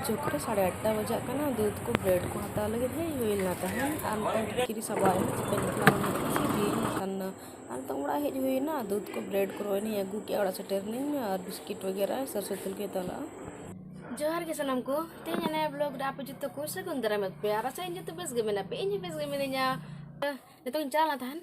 ᱦᱤᱡᱩᱜ ᱠᱚᱨᱮ ᱥᱟᱲᱮ ᱟᱴᱴᱟ ᱵᱟᱡᱟᱜ ᱠᱟᱱᱟ ᱫᱩᱫᱽ ᱠᱚ ᱵᱨᱮᱰ ᱠᱚ ᱦᱟᱛᱟᱣ ᱞᱟᱹᱜᱤᱫ ᱦᱮᱡ ᱦᱩᱭ ᱞᱮᱱᱟ ᱛᱟᱦᱮᱸᱫ ᱟᱨ ᱱᱤᱛᱚᱜ ᱠᱤᱨᱤ ᱥᱟᱵᱟᱣ ᱮᱱᱟ ᱪᱤᱠᱟᱹ ᱞᱮᱠᱷᱟᱱ ᱥᱤᱵᱤ ᱠᱟᱱ ᱟᱨ ᱱᱤᱛᱚᱜ ᱚᱲᱟᱜ ᱦᱮᱡ ᱦᱩᱭᱱᱟ ᱫᱩᱫᱽ ᱠᱚ ᱵᱨᱮᱰ ᱠᱚ ᱨᱚᱭᱱᱤᱧ ᱟᱹᱜᱩ ᱠᱮᱜᱼᱟ ᱚᱲᱟᱜ ᱥᱮᱴᱮᱨᱱᱤᱧ ᱟᱨ ᱵᱤᱥᱠᱤᱴ ᱵᱟᱜᱮᱨᱟ ᱥᱟᱨ ᱥᱩᱛᱩᱞ ᱠᱚ ᱦᱟᱛᱟᱣ ᱞᱟᱜᱼᱟ ᱡᱚᱦᱟᱨ ᱜᱮ ᱥᱟᱱᱟᱢ ᱠᱚ ᱛᱮᱦᱮᱧ ᱚᱱᱟ ᱵᱞᱚᱜ ᱨᱮ ᱟᱯᱮ ᱡᱚᱛᱚ ᱠᱚ ᱥᱟᱹᱜᱩᱱ ᱫᱟᱨᱟᱢ ᱮᱫ ᱯᱮᱭᱟ ᱟᱨ ᱟᱥᱟᱭᱟᱹᱧ ᱡᱚᱛᱚ ᱵᱮᱥ ᱜᱮ ᱢᱮᱱᱟᱜ ᱯᱮ ᱤᱧ ᱦᱚᱸ ᱵᱮᱥ ᱜᱮ ᱢᱤᱱᱟᱹᱧᱟ ᱱᱤᱛᱚᱜ ᱤᱧ ᱪᱟᱞᱟᱣ ᱞᱮᱱᱟ ᱛᱟᱦᱮᱸᱫ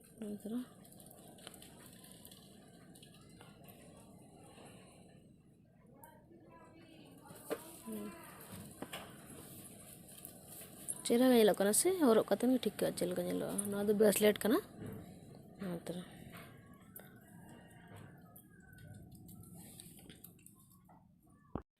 ᱪᱮᱦᱨᱟ ᱜᱮ ᱧᱮᱞᱚᱜ ᱠᱟᱱᱟ ᱥᱮ ᱦᱚᱨᱚᱜ ᱠᱟᱛᱮ ᱜᱮ ᱴᱷᱤᱠ ᱪᱮᱫ ᱞᱮᱠᱟ ᱧᱮᱞᱚᱜᱼᱟ ᱱᱚᱣᱟ ᱫᱚ ᱵᱨᱮᱥᱞᱮᱴ ᱠᱟᱱᱟ ᱱᱚᱣᱟ ᱛᱟᱨᱟ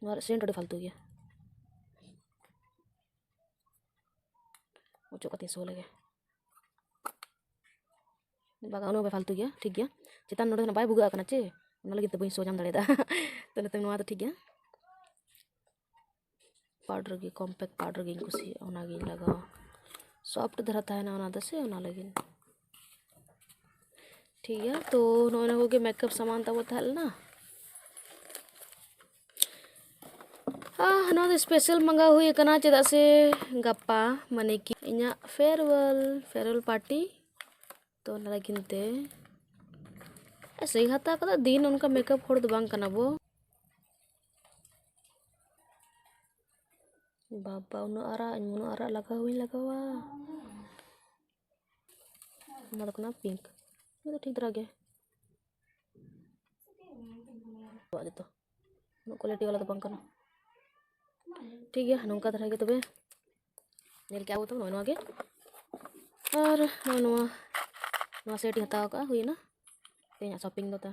ᱱᱚᱣᱟ ᱨᱮᱭᱟᱜ ᱥᱮᱱᱴ ᱟᱹᱰᱤ ᱯᱷᱟᱞᱛᱩ ᱜᱮᱭᱟ ᱚᱪᱚᱜ ᱠᱟᱛᱮ ᱥᱚ ᱞᱮᱜᱮ ᱵᱟᱜᱟ ᱚᱱᱟ ᱵᱟᱭ ᱯᱷᱟᱞᱛᱩ ᱜᱮᱭᱟ ᱴᱷᱤᱠ ᱜᱮᱭᱟ ᱪᱮᱛᱟᱱ ᱱᱚᱰᱮ ᱵᱟᱭ ᱵᱷᱩᱜᱟᱹᱜ ᱠᱟᱱᱟ ᱪᱮ ᱚᱱᱟ ᱞᱟᱹᱜᱤᱫ ᱛᱮ ᱵᱟᱹᱧ ᱥᱚ ᱧᱟᱢ ᱫᱟᱲᱮᱭᱟᱫᱟ ᱛᱚ ᱱᱤᱛᱚᱝ ᱱᱚᱣᱟ ᱫᱚ ᱴᱷᱤᱠ ᱜᱮᱭᱟ ᱯᱟᱣᱰᱟᱨ ᱜᱮ ᱠᱚᱢᱯᱮᱠ ᱯᱟᱣᱰᱟᱨ ᱜᱤᱧ ᱠᱩᱥᱤᱭᱟᱜᱼᱟ ᱚᱱᱟᱜᱤᱧ ᱞᱟᱜᱟᱣᱟ ᱥᱚᱯᱷᱴ ᱫᱷᱟᱨᱟ ᱛᱟᱦᱮᱱᱟ ᱚᱱᱟ ᱫᱚ ᱥᱮ ᱚᱱᱟ ᱞᱟᱹᱜᱤᱫ ᱴᱷᱤᱠ ᱜᱮᱭᱟ ᱛᱚ ᱱᱚᱜᱼᱚ ᱱᱚᱣᱟ ᱠᱚᱜᱮ ᱢᱮᱠᱟᱯ ᱥᱟᱢᱟᱱ ᱛᱟᱵᱚ ᱛᱟᱦᱮᱸ ᱞᱮᱱᱟ ᱱᱚᱣᱟ ᱫᱚ ᱥᱯᱮᱥᱟᱞ ᱢᱟᱸᱜᱟᱣ ᱦᱩᱭ ᱟᱠᱟᱱᱟ ᱪᱮᱫᱟᱜ ᱥᱮ ᱜᱟᱯᱟ ᱢᱟᱱᱮ ᱠᱤ ᱤᱧᱟᱹᱜ ᱯᱷᱮᱭᱟᱨᱣᱮᱞ ᱯᱷᱮᱭᱟᱨᱣᱮᱞ ᱯᱟᱨᱴᱤ ᱛᱚ ᱚᱱᱟ ᱞᱟᱹᱜᱤᱫ ᱛᱮ ᱥᱮᱭ ᱦᱟᱛᱟᱣ ᱠᱟᱫᱟ ᱫᱤᱱ ᱚᱱᱠᱟ ᱢᱮᱠᱟᱯ ᱦᱚᱲ ᱫᱚ ᱵᱟᱝ ᱠᱟᱱᱟ ᱵᱚ ᱵᱟᱵᱟ ᱩᱱᱟᱹᱜ ᱟᱨᱟᱜ ᱤᱧ ᱩᱱᱟᱹᱜ ᱟᱨᱟᱜ ᱞᱟᱜᱟᱣ ᱵᱟᱹᱧ ᱞᱟᱜᱟᱣᱟ ᱚᱱᱟ ᱫᱚ ᱠᱟᱱᱟ ᱯᱤᱝᱠ ᱚᱱᱟ ᱫᱚ ᱴᱷᱤᱠ ᱫᱷᱟᱨᱟ ᱜᱮ ᱡᱚᱛᱚ ᱩᱱᱟᱹᱜ ᱠᱚᱣᱟᱞᱤᱴᱤ ᱵᱟᱞᱟ ᱫᱚ ᱵᱟᱝ ᱠᱟᱱᱟ ᱴᱷᱤᱠ ᱜᱮᱭᱟ ᱱᱚᱝᱠᱟ ᱫᱷᱟᱨᱟ ᱜᱮ ᱛᱚᱵᱮ ᱧᱮᱞ ᱠᱮᱜᱼᱟ ᱵᱚᱛᱚ ᱱᱚᱜᱼᱚᱭ ᱱᱚᱣᱟ ᱜᱮ ᱟᱨ ᱱᱚᱜᱼᱚᱭ ᱱᱚᱣᱟ ᱱᱚᱣᱟ ᱥᱮᱴ ᱤᱧ ᱦᱟᱛᱟᱣ ᱠᱟᱜᱼᱟ ᱦᱩᱭᱱᱟ ᱛᱮᱦᱮᱧᱟᱜ ᱥᱚᱯᱤᱝ ᱫᱚ ᱛᱟ